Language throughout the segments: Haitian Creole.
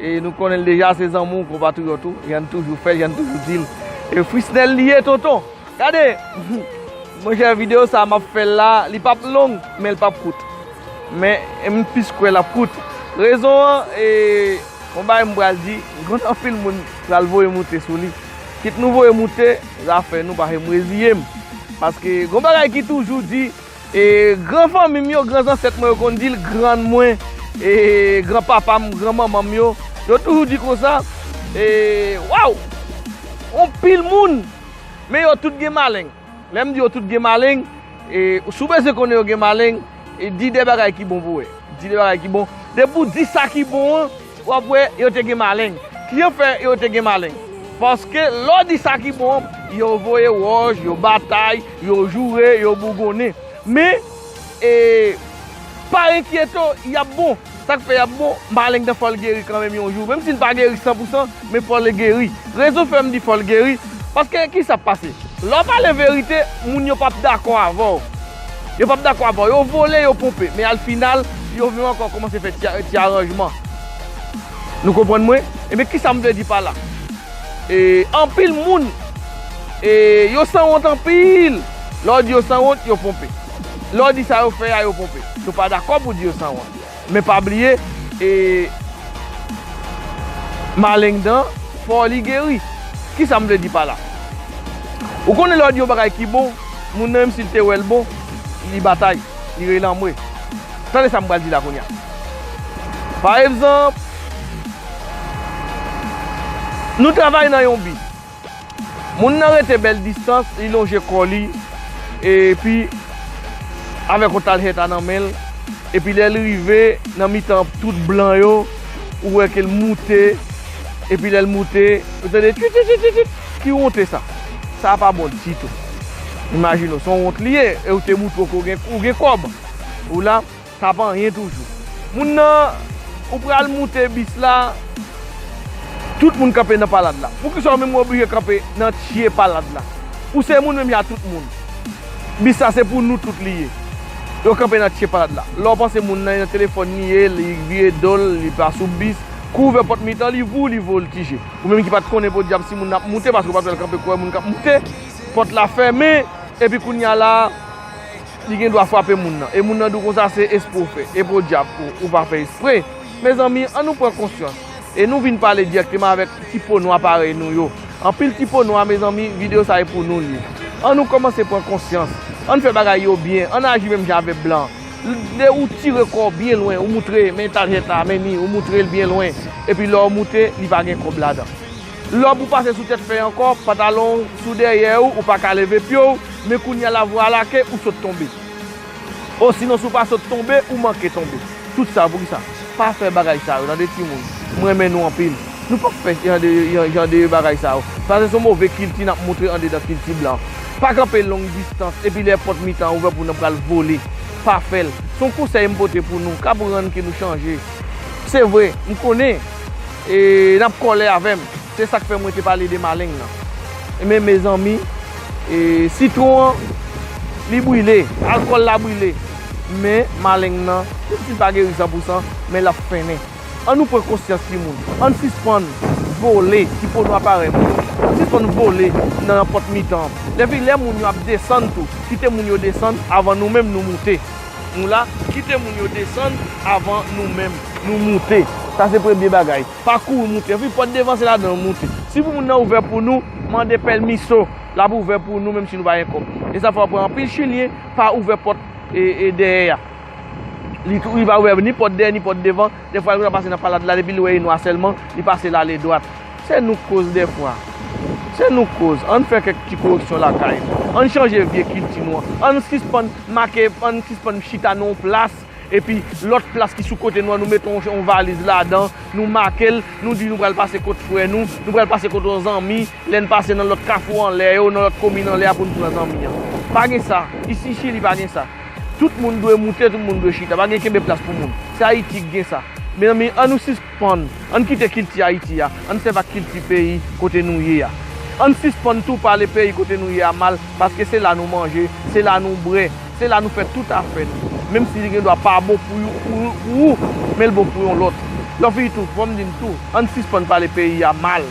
E nou konnen l deja se zanmi w konpatriyòt ou jan n toujou fè jan n toujou di l e frisnel li ye tonton gade monchè videyo sa m ap fè l la li pap long men l pap kout men m plis kwè l ap kout rezon an e yon bagay m pral di m konnen anpil moun pral voye moute sou li kit nou voye moute zafè nou paske m reziye m paske yon bagay ki toujou di E gran fanmi m yo, gran zansèt mwen yo konn di l, grann mwen, e gran papa m, gran manman m yo, yo toujou di konsa, e, waw! On pil moun, men yo tout gen maleng. Lè m di yo tout gen maleng, e si w bezwen konnen yo gen maleng, e di de bagay ki bon pou wè. Di de bagay ki bon. Depi w di sa ki bon an. W ap wè yo te gen maleng. Kijan fè yo te gen maleng? Paske lè w di sa ki bon, yo voye wòch, yo batay, yo joure, yo bougonnen. Men, e, pa enkyete w, y ap bon. Sa k fè y ap bon? Maleng nan fò l geri kanmenm yon jou. Menm si l pa geri sanpousan, men fò l geri. Rezon fè m di fò l geri, paske kisa k pase? Lè w pale verite, moun yo p ap dakò avè w. Yo pap dakò avan. Yo vole, yo ponpe. Men al final, yo vin ankò kòmanse fè ti aranjman. Nou konprann mwen? Ebyen kisa m vle di pa la? E anpil moun e yo sanwont anpil. Lè w di yo sanwont, yo ponpe. Lè w di sa yo fè a, yo ponpe. Nou pa dakò pou di yo sanwont. Men pa bliye e maleng dan fò li geri. Kisa m vle di pa la? Ou konnen lè w di yon bagay ki bon, moun nan menm si l te wè l bon, li batay, li rele anmwe. Tande sa m pral di la kounye a. Pa egzanp, nou travay nan yon bi. Moun nan rete bèl distans, li lonje kò li, epi avèk yon taljeta nan men l, epi lè l rive nan mitan tout blan yo, ou wè ke l moute, epi lè l moute, ou tande twitwitwitwit, ki wonte sa? Sa a pa bon ditou. Imajine w, se yon wont li ye, e ou te moutre w ke ou gen kòb, ou la. Sa pa anyen toujou. Moun nan ou pral moute bis la tout moun kanpe nan palad la poukisa ou menm ou oblije kanpe nan tye palad la ou se moun menm jan a tout moun bis la se pou nou tout li ye yo kanpe nan tye palad la lè ou panse moun nan nan telefòn li ye li vire dol li pa sou bis kou ouvè pòt mitan li vou li voltije ou menm ki pat konnen podyab si moun ap moute paske ou pat wèl kanpe kouwè moun kap moute pòt la fèmen epi kounya la. Li gen dwa frape moun nan. E moun nan di w konsa se espre w fè. E podyab ou pa fè espre. Mezanmi, an nou pran konsyans. E nou vin pale dirèkteman avèk ti po nwa parèy nou yo. Anpil ti po nwa, mezanmi, videyo sa e pou nou l ye. An nou kòmanse pran konsyans. An n fè bagay yo byen. An n aji menm jan avè blan. Lè ou tire kò w byen lwen, ou moutre men tarjeta, men ni, ou moutre l byen lwen. Epi lè w moute, li pa gen kòb ladan. Lòb ou pase sou tèt fèy ankò, pantalon ou sou dèyè ou, ou pa ka leve pye ou, men kounye a la vwa a lake, ou sot tonbe. Osinon si w pa sot tonbe, ou manke tonbe. Tout sa pou ki sa? Pa fè bagay sa yo, tande timoun. M renmen nou anpil. Nou p ap fè jan de bagay sa yo. Sa se son move kilti n ap montre andedan kilti blan. Pa kanpe long distans epi lè pòt mitan an ouvè pou nou pral vole. Pa fè l. S on konsèy m pote pou nou k ap rann ke nou chanje. Se vre, m konnen, E nap kole avem. Se sak fe mwen te pale de maleng nan. Ebyen mezanmi e sitron an li brile, alkol la brile men maleng nan menm sil pa geri san pou san men lap fennen. An nou pran konsyans ti moun. An sispann vole ti po nwa parey mwen yo. An sispann vole nan pot mitan. Epi le moun yo ap desann tou kite moun yo desann avan nou menm nou moute. Nou la, kite moun yo desann avan nou menm nou moute. Sa se premye bagay. Pa kouri moute. Anpil pòt devan se ladan yo moute. Si pou moun nan ouvè pou nou, mande pèlmiso. L ap ouvè pou nou menm si nou pa gen kòb. E sa fè w ap pran anpil chilyen pa ouvè pòt dèyè a. Li pa ouvè ni pòt dèyè ni pòt devan. Dèfwa l konn ap pase nan palad la depi l wè e nwa sèlman, li pase l ale dwat. Se nou k koz dèfwa. Se nou k koz. Ann fè kèk ti koreksyon lakay nou. Ann chanje vye kilti nou an. Ann sispann make, ann sispann chita nan yon plas, epi lòt plas ki sou kote nou an, nou mete yon valiz ladan, nou make l, nou di nou pral pase kot frè nou, nou pral pase kot yon zanmi, lè n pase nan lòt kafou anlè yo, nan lòt komin anlè a pou n pran zanmi an. Pa gen sa. Isi Chili pa gen sa. Tout moun dwe moute, tout moun dwe chita. Pa gen kenbe plas pou moun. Se Ayiti ki gen sa. Mezanmi, an nou sisp. Sispann. Ann kite kilti Ayiti a, ann sèv ak kilti peyi kote nou ye a. Ann sispann tou pale peyi kote nou ye a mal paske se la nou manje, se la nou bwè, se la nou fè tout afè nou. Menm si li gen dwa pa bon pou ou, men l bon pou yon lòt. Lòfi itou, fò m di n tou, ann sispann pale peyi a mal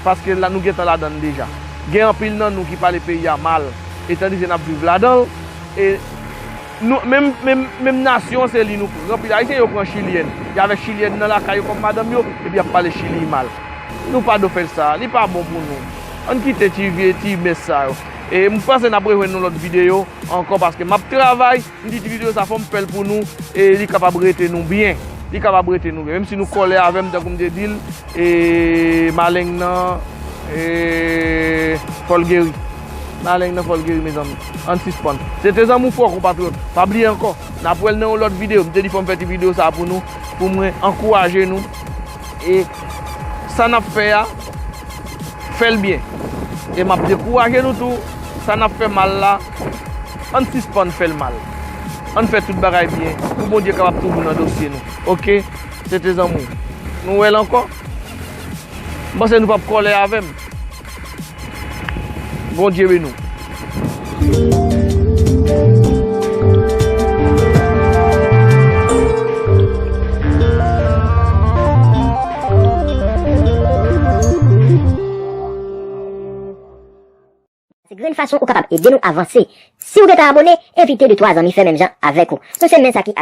paske la nou gentan ladan l deja. Gen anpil nan nou ki pale peyi a mal etandize n ap viv ladan l e. Nou menm menm nasyon se li nou pran pil ayisyen yo pran chilyèn y avèk chilyèn nan lakay yo kòm madanm yo epi yap pale chili mal nou pa do fè sa li pa bon pou nou ann kite ti vye ti mès sa yo e m panse nap rejwenn yon lòt videyo ankò paske map travay m di ti videyo sa fòm fèl pou nou e li kapab rete nou byen li kapab rete nou byen menm si nou kòlè avèm tankou m te dil e maleng nan e fòl geri. Maleng nan fòl geri mezanmi. Ann sispann. Se te zanmi w fò konpatriyòt. Pa bliye ankò. N ap wè l nan yon lòt videyo. M te di fò m fè ti videyo sa a pou nou. Pou mwen ankouraje nou. E sa n ap fè a, fè l byen. E m ap dekouraje nou tou. Sa n ap fè mal la, ann sispann fè l mal. Ann fè tout bagay byen. Pou Bondye kapab toujou nan dosye nou. Oke. Se te zanmi w. Nou wè l ankò. M panse nou p ap kòlè avè m. Bondye beni w. Grenn fason ou kapab ede nou avanse. Siw gentan abone, envite de twa zanmi fè menm jan avèk ou. Nou se men sa ki ak.